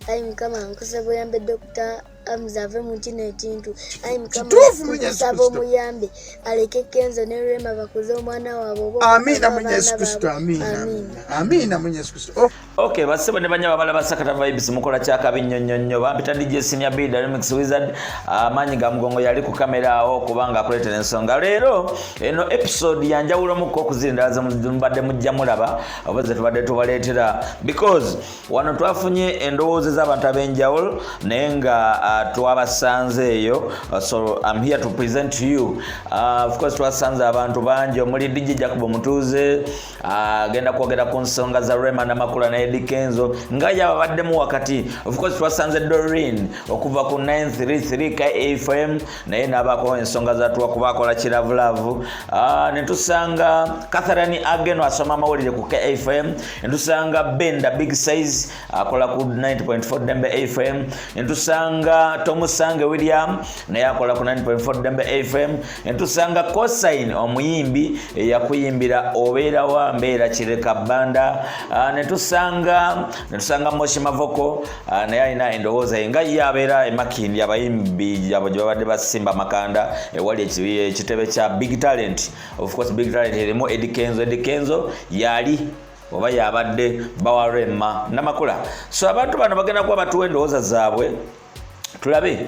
ayi mukama nkusaba oyambe dokita amuze ave mu kino ekintu ayi mukama nkusaba omuyambe aleke kenzo ne rema bakuze omwana waabwe obaamiina mu yesu kristo amiina amiina mu yesu kristo oh. ok basebo ne banyaba bala basakata vibes mukola kyakabi nnyo nnyo nnyo bampita dj senior b dynamic wizard amaanyi ga mugongo yali ku kamera awo kubanga akuleetera ensonga leero eno episode yanjawulomuko okuzira endala zemumbadde mujja mulaba oba zetubadde tubaleetera because wano twafunye endowooza ez'abantu ab'enjawulo naye nga uh, twabasanze eyo uh, so im here to present to you uh, of course twasanze abantu bangi omuli dj jacob omutuuze agenda uh, kwogera ku nsonga za rema namakula naye dikenzo nga yababaddemu wakati of course twasanze dorin okuva ku 933 kfm naye nabako ensonga zatuwa kuba akola kiravulavu ah, netusanga catherine ageno asoma amawulire ku kfm netusanga benda big size akola ku 9.4 dembe fm netusanga tomusange william naye akola ku 9.4 dembe fm netusanga cosin omuyimbi eyakuyimbira obeera wa mbeera kireka banda ah, netusanga netusanga moshi mavoko Ah, naye alina endowooza ye nga ye abeera emakindi abayimbi abo gye babadde basimba amakanda ewali ekitebe kya big talent ofcourse big talent erimu edikenzo edikenzo yali oba yabadde bawarema namakula so abantu bano bagenda kuba batuwa endowooza zaabwe tulabe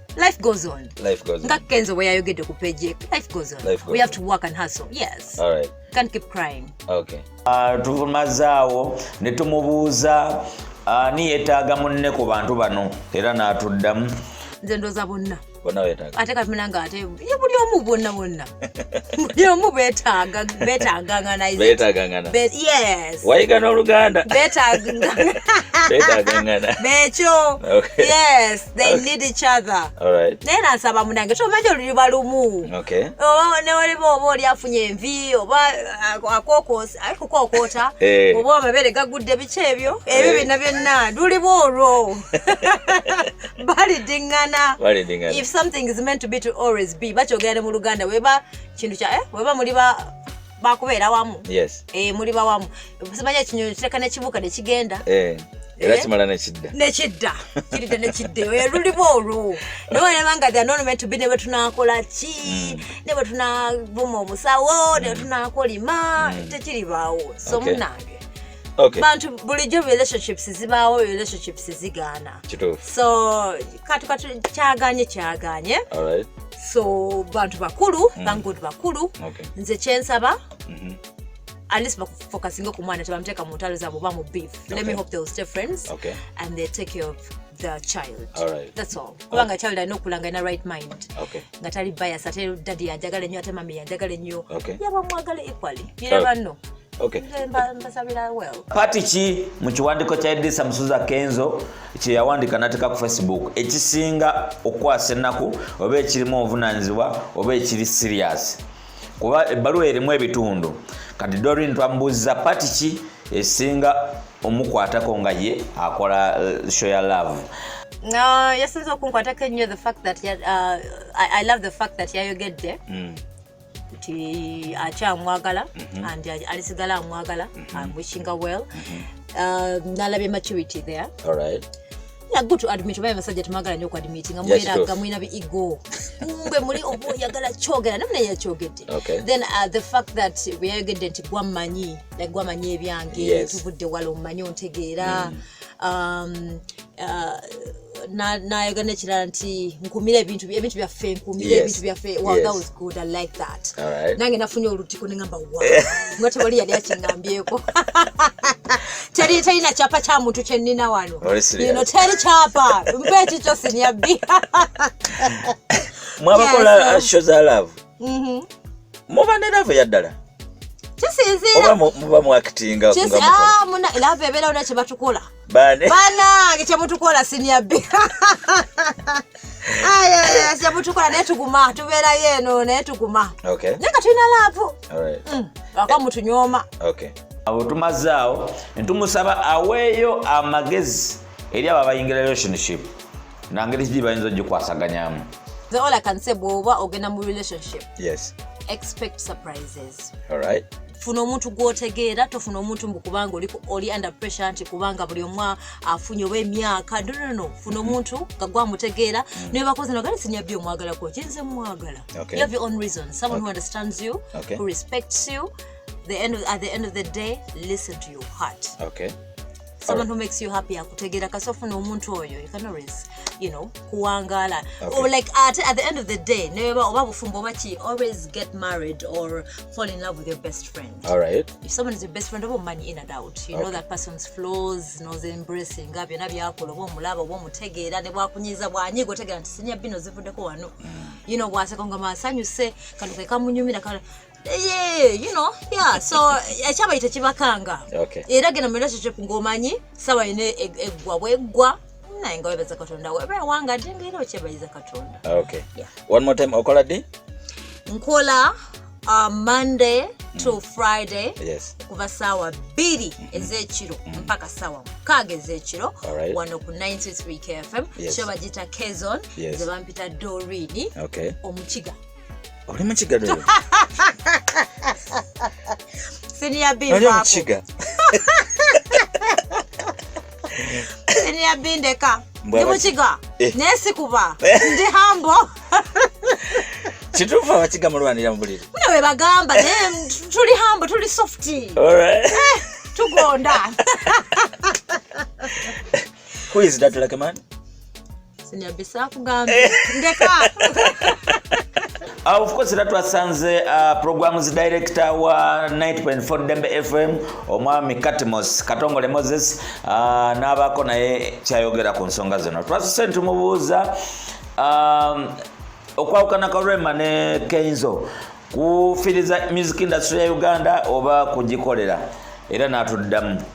life goes on life goes on nga kenzo bwe yayogedde ku page life goes on life goes we have to work and hustle yes all right can't keep crying okay uh, tumazaawo ne tumubuuza ani uh, yetaaga munne ku bantu bano era n'atuddamu nze ndoza bonna ate katumira nga ate buli omu bonna bonna omu betaaga betagangana betagangana yes wayiga n'oluganda betagangana bekyo yes they need each other naye nansaba munange tomanyi oluliba lumu newaliba oba oli afunye envi oba uh, akokosi ayi kukokoota eh. oba amabere gagudde biki ebyo ebyo eh. byonna byonna luliba olwo balidingana balidingana if something is meant to be to always be bakyogera ne mu luganda weba kintu kya eh weba muli ba bakubeera wamu yes eh muli ba wamu simanya kinyonyo kireka ne kibuka ne kigenda eh era eh? kimala nekidda nekidda kiridda nekidda eyo yelulimu olwo nawe nebanga the anonome to be ne bwetunakola ki mm. ne bwetunavuma omusawo ne mm. bwetunakolima mm. tekiribaawo so munange Okay. bantu bulijjo relationships zibaawo relationships zigaana so kati kati kyaganye kyaganye right. so bantu bakulu mm. bangod bakulu okay. nze kyensaba mm -hmm. at least bakufokasinga ku mwana tebamuteeka mu ntalo zaabo oba mu beef okay. let me hope they will stay friends okay. and they take care of the child right. that's all kubanga okay. child alina okulanga ina right mind okay. nga tali bias ate dadi yanjagala ennyo ate mami yanjagala ennyo okay. yabamwagala equally you never know okay. Okay. Pati ki mu kiwandiiko kya Edisa Musuza Kenzo kye yawandika n'ateeka ku Facebook ekisinga okukwasa ennaku oba ekirimu obuvunaanyizibwa oba ekiri siriasi kuba ebbaluwa erimu ebitundu kati Dorin twamubuuzza pati ki esinga omukwatako nga ye akola eh, show ya love no yasinza okunkwatako ennyo the fact that uh, I, i love the fact that yayogedde mm. nti akyamwagala mhm. and alisigala amwagala mhm. am wishing her well mhm. uh, nalabye maturity there All right. Yeah, good to admit oba abasajja temwagala nyo okuadmiti nga mubeera nga mulina bi ego mbe muli oba oyagala kyogera namuna yakyogedde then uh, the fact that weyayogedde nti gwammanyi gwammanyi ebyange tuvudde wala omumanyi ontegeera mm. um, uh, nayoga nekirala nti nkumira ebintu ebintu byaffe nkumira ebintu byaffe wow that was good i like that nange nafunye olutiko nengamba wa nga tewali yali akingambyeko teri terina kyapa kya muntu kyenina wano ino teri kyapa mpa ekikyo sinyabbi mwabakola uh, show za love mm-hmm. muba ne love yaddala kisinziira oba muba mu actinga ah, love ebeerawo nekye batukola banange kyemutukola sinia b kyemutukola naye tuguma tubeerayo eno naye tuguma naye nga tulina laavu mm, waka mutunyooma awo tumaze awo netumusaba aweeyo amagezi eri abo abayingira relationship nangeri kidi bayinza ogikwasaganyamu all i can say bwoba ogenda mu relationship yes expect surprises all right funa omuntu gwotegeera tofuna omuntu mbu kubanga oli oli under pressure nti kubanga buli omu afunye oba emyaka nonono funa mhm. omuntu nga gwamutegeera mhm. naye bakozi nogale sinyabbi omwagalako kyenze mumwagala you have your own reason someone who understands you who respects you the end of, at the end of the day listen to your heart okay someone who makes you happy akutegera kasi ofuna omuntu oyo you can always you know kuwangala okay. or like at, at the end of the day neba oba bufumbo oba ki always get married or fall in love with your best friend all right if someone is your best friend oba omumanyi in and out you okay. know that person's flaws knows embracing nga byonna byakola oba omulaba oba omutegeera ne bwakunyiza bwanyiga otegeera nti sinya bino zivuddeko wano mm. you know bwaseka nga masanyuse kano kekamunyumira Eh, you know yeah so ekyabayi tekibakanga era genda mu relationship ng'omanyi sawa yina e, eggwa bweggwa naye nga webaza katonda weba ewanga dde nga era okyebayiza katonda okay yeah. one more time okola ddi nkola uh, monday to mm. friday yes. kuva saawa bbiri mm-hmm. ezekiro mm. mpaka saawa mukaaga ezekiro right. wano ku 93 kfm yes. kyo bagita kezon yes. zebampita dorini okay. omukiga oli mukiga dolo senior bin oli mukiga senior bin deka ndi mukiga eh. naye sikuba eh. ndi hambo kituufu abakiga mulwanira mubuliri mune webagamba naye tuli hambo tuli softi eh, tugonda who is that lucky man Eh. Uh, of course era twasanze uh, programs director wa 9.4 dembe fm omwami katmos katongole moses uh, n'abaako naye kyayogera ku nsonga zino twasuse ntumubuuza um, okwawukana kwa rema ne kenzo kufiriza music industry ya uganda oba kugikolera era n'atuddamu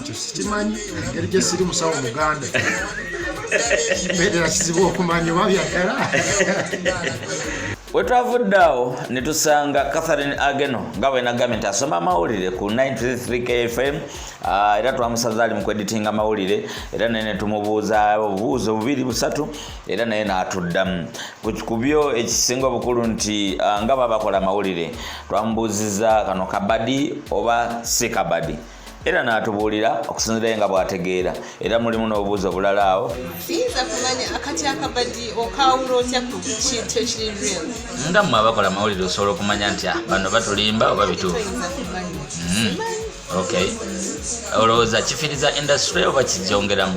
ekyo sikimanyi engeri gyesiri musawo muganda mbeerera kizibu okumanya oba byagala wetwavudde awo netusanga catherine ageno nga bwenagambye nti asoma amawulire ku 93 kfm ah, era twamusaza ali mukweditinga amawulire era naye netumubuuza obubuuzo bubiri busatu era naye natuddamu kubyo ekisinga obukulu nti ah, nga babakola amawulire twamubuuzizza kano kabadi oba si kabadi era n'atubuulira okusinzirayo nga bw'ategeera era mulimu n'obubuuzi obulala awo siyinza kumanya akati akabadi okawula otya ku kintu ekiri real nga mmwe abakola amawulire osobola okumanya nti ah, bano batulimba oba bituufu hmm. okay olowooza kifiriza industry oba kigyongeramu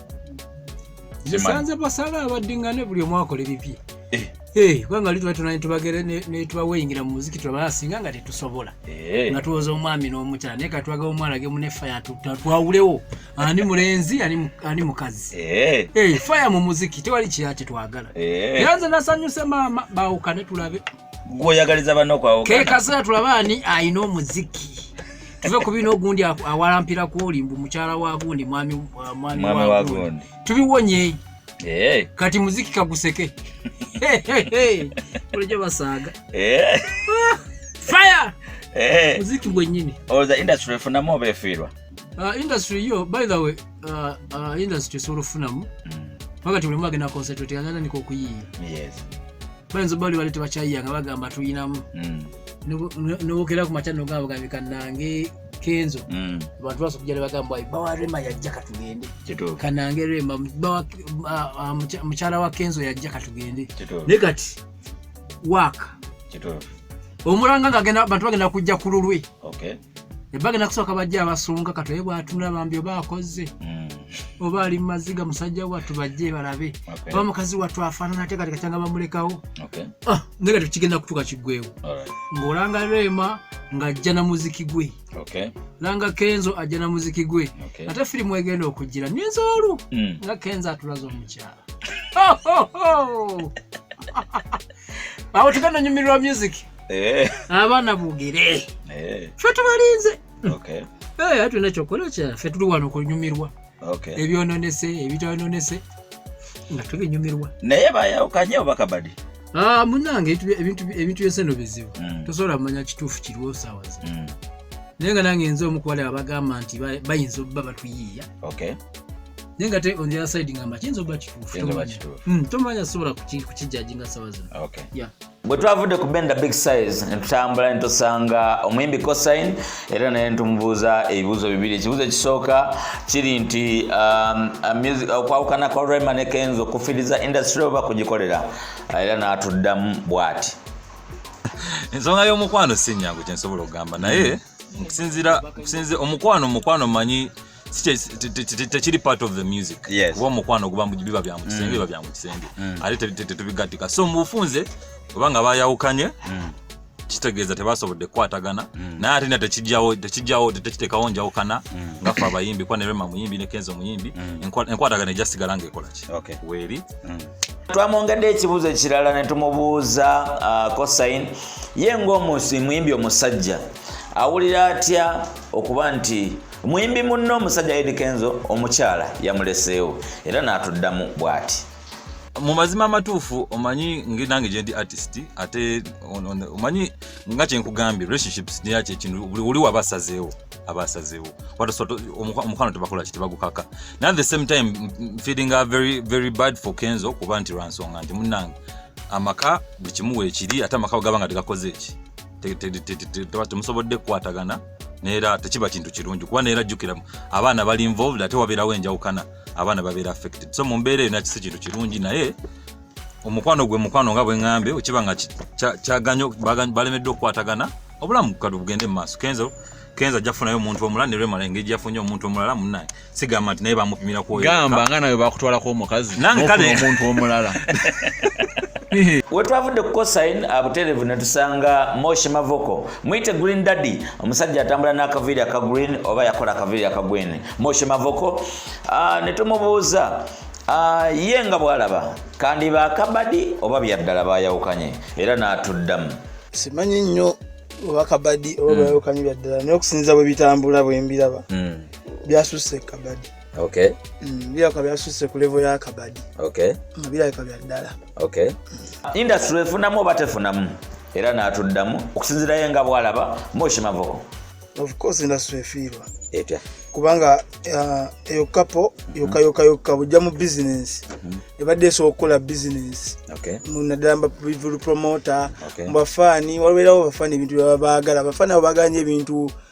nsanze basala abaddingane buli omu akola ebibye eh. eh, kubanga lituba tunani tubagere netubaweyingira mu muziki tulabaa singa nga tetusobola eh. nga tuwoza omwami n'omukyala naye katwaga omwana ge mune faya twawulewo ani mulenzi ani mukazi faya mu muziki tewali kiyaki twagala era nze nasanyuse maama bawukane tulabe gwoyagaliza banno kwawukana kekasera tulaba ani ayina omuziki tuve ku bino ogundi awalampira kwoli mbu mukyala wa gundi mwami wa gundi tubiwonye eh. kati muziki kaguseke bulijo basaaga eh. fire eh. muziki gwenyini olowooza industry efunamu oba efiirwa uh, industry yo by the way uh, uh, industry esobola okufunamu mm. paka ti mulimu agenda concentrate agenda niko okuyiiya bayinza bali bali tebakyayiya nga bagamba tulinamu mm. nobokera ku makya nogamba bagambika nange kenzo mm. abantu baso kujja nebagamba bawa rema yajja katugende kanange rema mukyala wa kenzo yajja katugende naye kati waaka omulanga nga bantu bagenda kujja ku lulwe ebagenda kusooka bajja abasonga katoye bwatula bambi oba akoze hmm. oba ali mumaziga musajja wattu bajje balabe oba mukazi wattu afaanana ate kati katyanga bamulekawo ah, naye kati kigenda kutuka kiggwewo ng'olanga reema ng'ajja na muziki gwe langa kenzo ajja na muziki gwe ate firimu egenda okugira myezi olu hmm. nga kenzo atulaza omukyala awo tugenda nyumirwa music eh. abaana bogere eh. fe tubalinze eh, ate tulina kyokukola kyafe tuli wano kunyumirwa ebyononese ebitononese nga tubinyumirwa naye bayawukanye obakabadi ah, munange ebintu byose no bizibu mm. tosobola kumanya kituufu kiriwo sawazi mm. naye nga nange nze omukuwala abagamba nti bayinza obba batuyiiya naye nga te on the other side ngamba kiyinza obba kituufu tomanya hmm, sobola kukijaji nga sawa zino bwe twavudde ku benda big size ne tutambula ne tusanga omuyimbi cosin era naye netumubuuza ebibuuzo bibiri ekibuuzo ekisooka kiri nti um, uh, okwawukana kwa rema ne kenzo okufiriza industry oba kugikolera uh, era n'atuddamu bw'ati ensonga y'omukwano si nyangu kyensobola okugamba naye okusinzira omukwano omukwano manyi tekiri part of the music kuba omukwano guba biba bya mukisenge mm. biba bya mukisenge mm. ate tetubigattika so mubufunze oba nga bayawukanye mm. kitegeeza tebasobodde kukwatagana naye ate na tekijjawo tekijjawo tekiteekawo njawukana nga fe abayimbi kuba nerema muyimbi ne kenzo muyimbi enkwatagana ejasigala ngaekola ki weeri twamwongedde ekibuuzo ekirala ne tumubuuza uh, cosin ye ngaomusi muyimbi omusajja awulira atya okuba nti Muyimbi munne omusajja Eddy Kenzo omukyala yamuleseewo era n'atuddamu bw'ati. mu mazima amatuufu omanyi nange gyendi artist ate omanyi nga kyenkugambye relationships yakyekintu buli woli waba asazeewo aba asazeewo omukwano tebakola ki tebagukaka naye at the same time feeling a very, very bad for kenzo kuba nti lwansonga nti munange amaka buli kimu weekiri ate amaka gaba nga tegakoze eki temusobodde kukwatagana neera tekiba kintu kirungi kuba neera jjukira abaana bali involved ate wabeerawo enjawukana abaana babeera affected so mu mbeera eyo nakisi kintu kirungi naye omukwano gwe mukwano nga bweŋambye okiba nga kyaganyo balemeddwa okukwatagana obulamu kati bugende mu maaso kenzo kenzo ajja kufunayo omuntu omulala ne lwemala engeri gyafunye omuntu omulala munaye sigamba nti naye bamupimira ku gamba nga nawe bakutwalako omukazi omuntu omulala wetwavudde ku cosin abuterevu ne tusanga moshi mavoko muyite green daddy omusajja atambula n'akaviiri aka green oba yakola akaviiri aka green moshi mavoko ah, ne tumubuuza ah, ye nga bwalaba kandi bakabadi oba byaddala bayawukanye era n'atuddamu simanyi nnyo oba kabadi oba hmm. bayawukanye byaddala naye okusinza bwe bitambula bwe mbiraba hmm. byasusse ekabadi okay mm, birabika byasusse ku levo ya kabadi okay mm, birabika bya ddala okay mm. industry efunamu oba tefunamu era n'atuddamu okusinzirayo nga bwalaba moshi mavoko of course industry efiirwa etya kubanga uh, eyo kapo yoka yoka yoka bujja mu business mm-hmm. ebadde esobola okukola business naddala mubavulu promoter mubafaani waliwo erawo bafaani ebintu byabagala bafaani abo bagala nyo ebintu okay.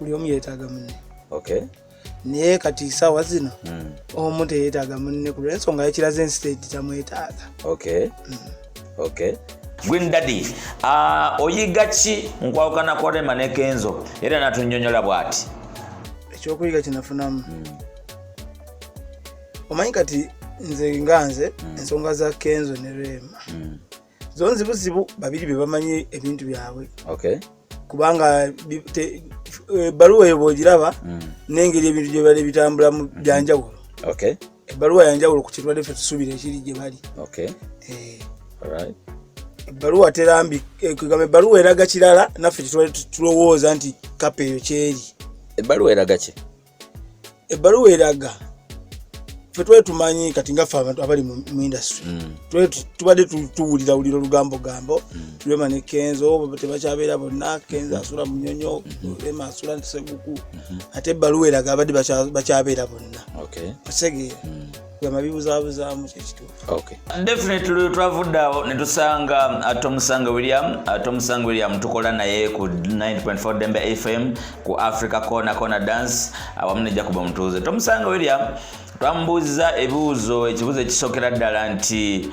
buli omu yeetaaga munne okay naye kati saawa zino hmm. omu teyetaaga munne kulwensonga yekiraze ensi tetamwetaaga okay hmm. okay Gwin Daddy uh, oyiga ki nkwawukana kwa Rema ne Kenzo era natunyonyola bwati ekyokuyiga kinafunamu mm. omanyi kati nze nga nze mm. ensonga za Kenzo ne Rema mm. zonzi buzibu babiri bebamanyi ebintu byabwe okay. kubanga ebbaluwa eh, eyo bwogiraba mm. nengeri ebintu gyebali bitambulamu mm-hmm. byanjawulo okay. ebbaluwa yanjawulo ku kirwadde fe tusuubira ekiri gye bali okay. eh. right. ebbaluwa terambi eh, kugamba ebbaluwa eraga kirala naffe kyetwali tulowooza nti kapa eyo kyeri ebbaluwa eraga ki ebbaluwa eraga fe twali tumanyi kati ngaffe abantu abali mu industry mm. tubadde tuwulira wulira olugambo gambo mm. lwema ne kenzo tebakyabeera bonna kenzo mm-hmm. asula munyonyo mm-hmm. lwema asula ntiseguku mm-hmm. ate ebbaluwa eraga abadde bakyabeera bonna otegeera mm. yamabibuzabuzaamu kyekituudefinitely twavudde awo netusanga ate uh, omusanga william ate uh, omusanga william tukola naye ku 9.4 dembe fm ku africa corner corner dance awamu uh, nejja kuba mutuuze tomusanga william twamubuuziza ebibuuzo ekibuuzo ekisokera ddala nti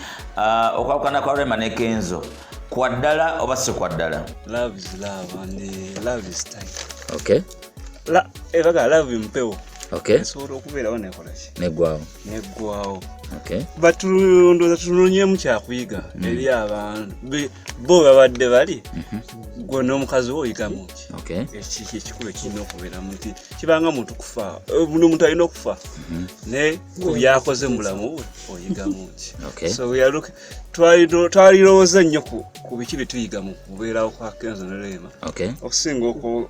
okwawukana kwa rema ne kenzo kwaddala oba si kwaddala okay la e baga love mpewo okay esobola okubeerawo nekola ki neggwawo neggwawo okay but ndowooza tunonyemu kyakuyiga mm. eri abantu bo babadde bali mm-hmm. gwe n'omukazi wo oyigamu ki okay ekiki ekikulu ekirina okubeeramu nti kibanga muntu kufa eh, buno omuntu alina okufa mm-hmm. ne ku byakoze mu bulamu bwe oyigamu ki okay so we are looking twalirowooza nnyo ku biki bye tuyiga mu kubeerawo kwa kenzo ne leema okay okusinga oku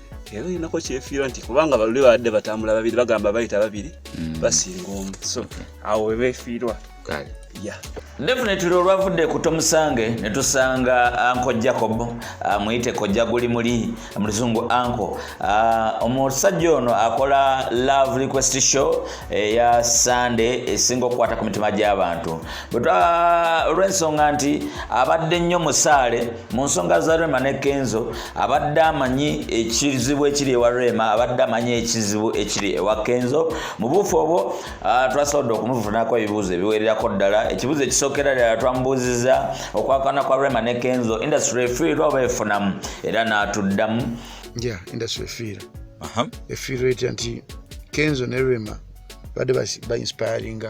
era olinako kyefiirwa nti kubanga baluli babadde batambula babiri bagamba bayita babiri mm. basinga omu so awo webefiirwa definitely olwavudde ku tomusange ne tusanga anko jacob ah, muyite kojja guli muli muluzungu anko ah, omusajja ono akola love request show eya eh, sunday esinga okukwata ku mitima gy'abantu olw'ensonga nti abadde nnyo musaale mu nsonga za rema ne kenzo abadde amanyi ekizibu ekiri ewa rema abadde amanyi ekizibu ekiri ewa kenzo mu buufu obwo ah, twasobodde okumufunako ebibuuzo ebiwererako ddala ekibuuzo ekisookera ddala twamubuuziza okwakana kwa rema ne kenzo industry efiirwa oba efunamu era n'atuddamu ja industry efiira efiirwa etya nti kenzo ne rema badde bainspiringa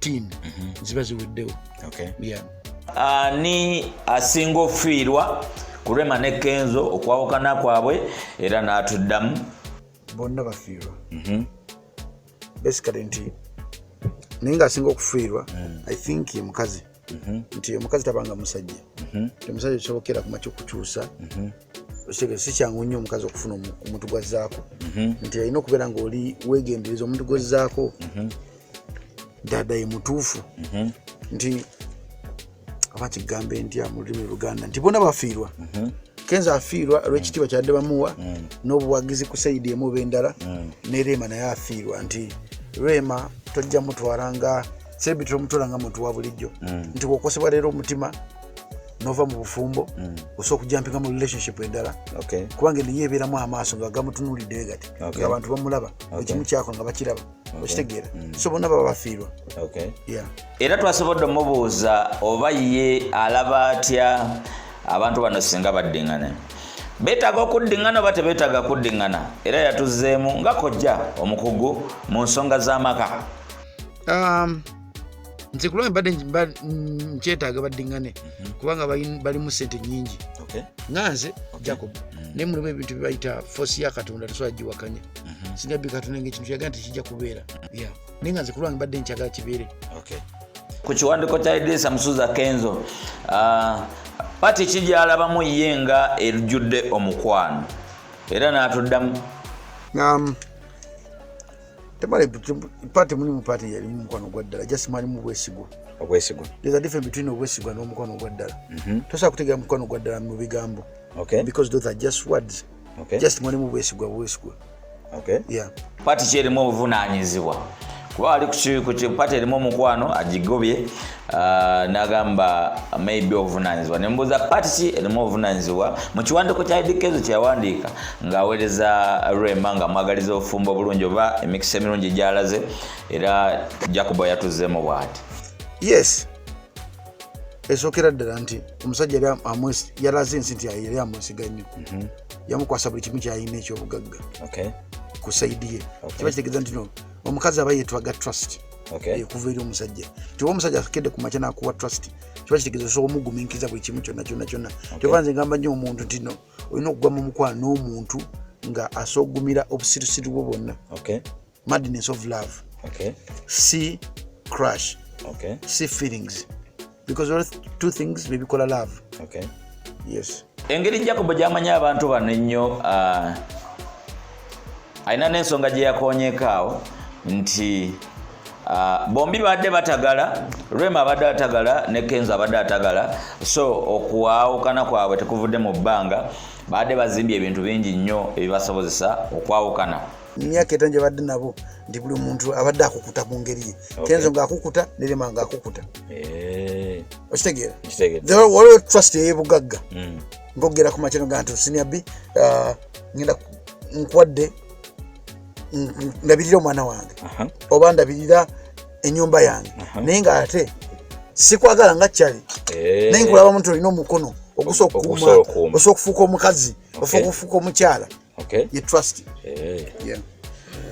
team mhm. ziba ziweddewo ani ah, asinga ofiirwa ku rema ne kenzo okwawukana kwabwe era n'atuddamu bonna bafiirwa mhm. basically nti naye ngaasinga okufiirwa mm. i think ye mukazi mhm. nti omukazi tabanga musajja omusajja kisobokera kuma kyokukyusa okitegere si kyangu nnyo omukazi okufuna omuntu gwazzaako mhm. nti alina okubeera ngaoli wegendereza omuntu gwezzaako mhm. dada ye mutuufu mhm. nti aba kigambe ntya mu lulimi luganda nti bona bafiirwa mhm. kenza afiirwa olwekitiibwa kyadde bamuwa mm. n'obuwagizi ku sayidi emu oba endala mm. ne reema naye afiirwa nti reema tojja mutwala nga sebi tomutwala nga muntu wa bulijjo mm. nti wokosebwa leero omutima nova mu bufumbo osobola okujampinga mu relationship endala kubanga niye ebeeramu amaaso nga gamutunuulidde gati nga abantu bamulaba ekimu kyako nga bakiraba okitegeera mm. so bonna baba bafiirwa era twasobodde omubuuza oba ye alaba atya abantu bano singa baddingane betaaga okuddingana oba tebetaaga kuddingana era yatuzeemu nga kojja omukugu mu nsonga z'amaka um, nze kulwange badde nkyetaaga baddingane mhm. kubanga balimu sente nyingi nga nze jacob mm. naye mulimu ebintu byebayita fosi ya katonda tosobola giwakanya mhm. singa bikatonda nga ekintu kyagaa nti kijja kubeera mm. naye nga nze kulwange badde nkyagala kibeere ku kiwandiko kya idirisa musuza kenzo ah, pati ki gyalabamu ye nga erujjudde omukwano era n'atuddamu um, temala pati mulimu pati yalimu mukwano gwa ddala just mwalimu bwesigwa obwesigwa there's a difference between obwesigwa n'omukwano gwa ddala mhm. tosobola kutegera mukwano gwa ddala mu bigambo okay because those are just words okay just mwalimu bwesigwa bwesigwa okay yeah pati kyerimu obuvunaanyizibwa kuba ali ku pati erimu omukwano agigobye Uh, nagamba maybe obuvunanyizibwa nembuuza pati ki erimu obuvunanyizibwa mu kiwandiiko kya idikezo kyeyawandiika ng'aweereza rema nga mwagaliza obufumbo obulungi oba emikisa emirungi gyalaze era jacobo yatuzeemu bwati yes esookera ddala nti omusajja yali yalaze ensi nti yali amwesiga nnyo mhm. yamukwasa buli kimu kyalina ekyobugagga ku saidi ye kiba kitegeeza nti no omukazi aba yetwaga trust okay. ekuva eri omusajja kyoba omusajja akedde ku makya nakuwa trust kiba kitegeza osobola omuguminkiriza buli kimu kyonna kyonna kyonna okay. kyoba nze ngamba nyo omuntu tino olina okugwa mu mukwano n'omuntu nga asogumira obusirusiru bwo bwonna okay. madness of love okay. si crush okay. si feelings because all two things bebikola love okay yes engeri jacob gyamanya abantu bano ennyo uh, alina n'ensonga gye yakonyekaawo nti uh, bombi baadde batagala rema abadde atagala ne kenzo abadde atagala so okwawukana kwabwe tekuvudde mu bbanga baadde bazimbye ebintu bingi nnyo ebibasobozesa okwawukana myaka etano gyebadde nabo nti buli muntu abadde akukuta mu ngeri ye kenzo ngaakukuta nerema ngaakukuta eh. okitegeera waliwo trust eyebugagga hmm. ngogera ku makyano ga nti osinia bi uh, ngenda nkwadde ndabirira omwana wange oba ndabirira enyumba yange naye nga ate sikwagala nga kyali eh. naye nkulaba muntu olina omukono ogusa okuuma osobola okufuuka omukazi osobola okufuuka omukyala okay ye trust eh yeah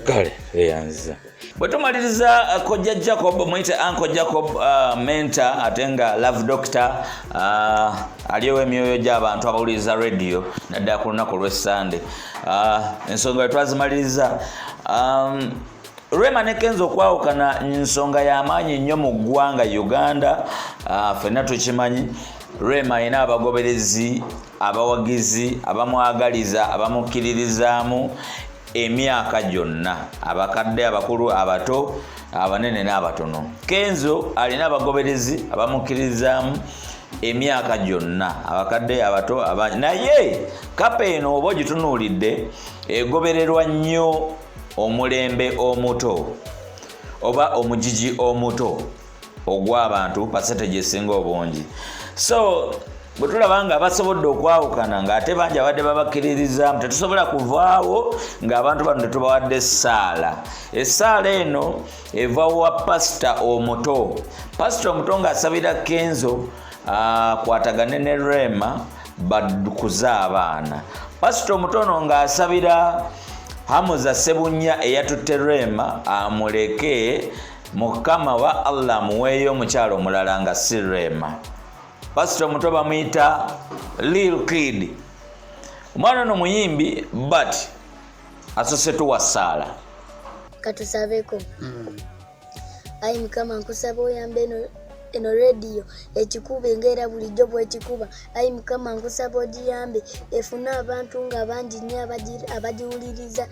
kale eyanziza bwe tumaliriza uh, kojja jacob muyite anko jacob uh, mentor ate nga love doctor uh, aliyowo emyoyo gy'abantu abawuliriza radio naddala ku lunaku olwessande uh, ensonga bwe twazimaliriza um, rema ne kenza okwawukana nsonga y'amaanyi nnyo mu ggwanga uganda uh, fenna tukimanyi rema alina abagoberezi abawagizi abamwagaliza abamukkiririzaamu emyaka gyonna abakadde abakulu abato abanene n'abatono kenzo alina abagoberezi abamukkiririzaamu emyaka gyonna abakadde abato naye kapa eno oba ogitunuulidde egobererwa nnyo omulembe omuto oba omugigi omuto ogw'abantu pasetage esinga obungi so bwe tulaba nga basobodde okwawukana ng'ate bangi abadde babakkiririzaamu tetusobola kuvaawo ng'abantu bano tetubawadde essaala essaala eno eva wa pasita omuto pasita omuto ng'asabira kenzo akwatagane ne rema bakuze abaana pasita omutono ng'asabira hamuza sebunya eyatutte rema amuleke mukama wa allah muweeyo omukyalo omulala nga si rema pasita omuto bamuyita lil kid omwana ono muyimbi but asose tuwa saala katusabeko mm. ayi mukama nkusaba oyamba eno eno rediyo ekikuba engaera bulijjo bwekikuba ayi mukama nkusaba ogiyambe efune abantu nga bangi nyo abagiwuliriza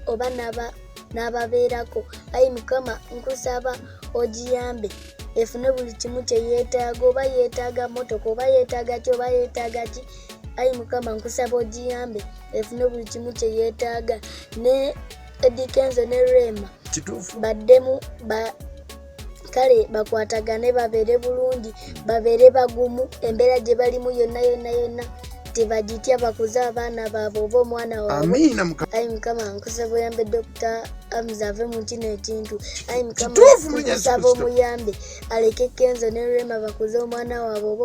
oba naba n'ababeerako ayi mukama nkusaba ogiyambe efune buli kimu kye yeetaaga oba yeetaaga motoka oba yeetaaga ki oba yeetaaga ki ayi mukama nkusaba ogiyambe efune buli kimu kye yeetaaga ne edikenzo ne rema kituufu baddemu ba kale bakwatagane babeere bulungi babeere bagumu embeera gye balimu yonna yonna yonna tebagitya bakuze abaana baabwe oba omwana wabeayi mukama nkusa buyambedde okuta amuze ave mu kino ekintu ayi mukamasaba omuyambe aleke kenzo ne rema bakuze omwana waabwe oba